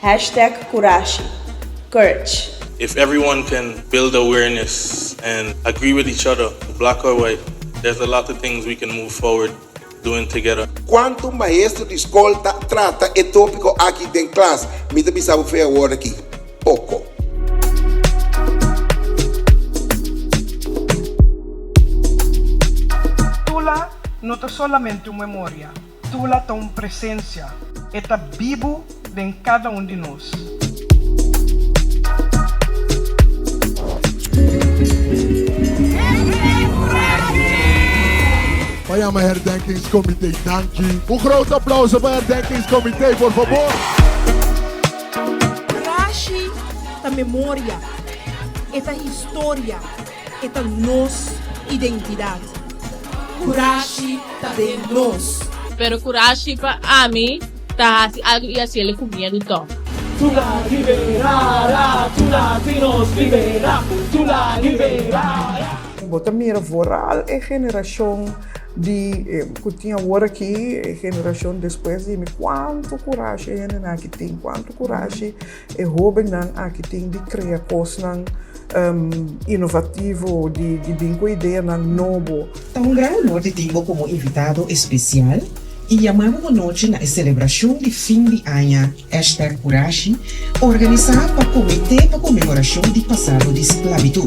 Hashtag Kurashi, Courage. If everyone can build awareness and agree with each other, black or white, there's a lot of things we can move forward doing together. Cuanto maestro di scol ta trata e topico aki den clas? Mi ta bisa bo fe awor aki, poco. Tula no ta solamente un memoria. Tula ta un presencia. E ta bibu den cada un di nos. Pa yama herdenkingscomitee danki. Un groot aplauso pa herdenkingscomitee por fabor. Rashi ta memoria, e ta historia. e ta nos identidad. Kurashi ta den nos. Pero kurashi pa ami ta hasi algu i hasiel ku miedu tò. Tula libera ra, tula tin nos libera, tula libera ra. Bo ta mira vooral e generashon di ku tin awor aki, e generashon despues di mi, kuantu kurashi e hendenan aki tin, kuantu kurashi. E hóbennan aki tin di krea kosnan inovativo, di bin ku ideanan nobo. Ta un gran honor di tin bo komo invitado espesial i yamá bo anochi na e selebrashon di fin di aña Hashtag Kurashi organisá pa Komité pa Konmemorashon di Pasado di Sklabitut.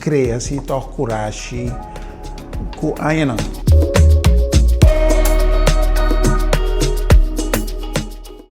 Krea si tòg kurashi ku añanan.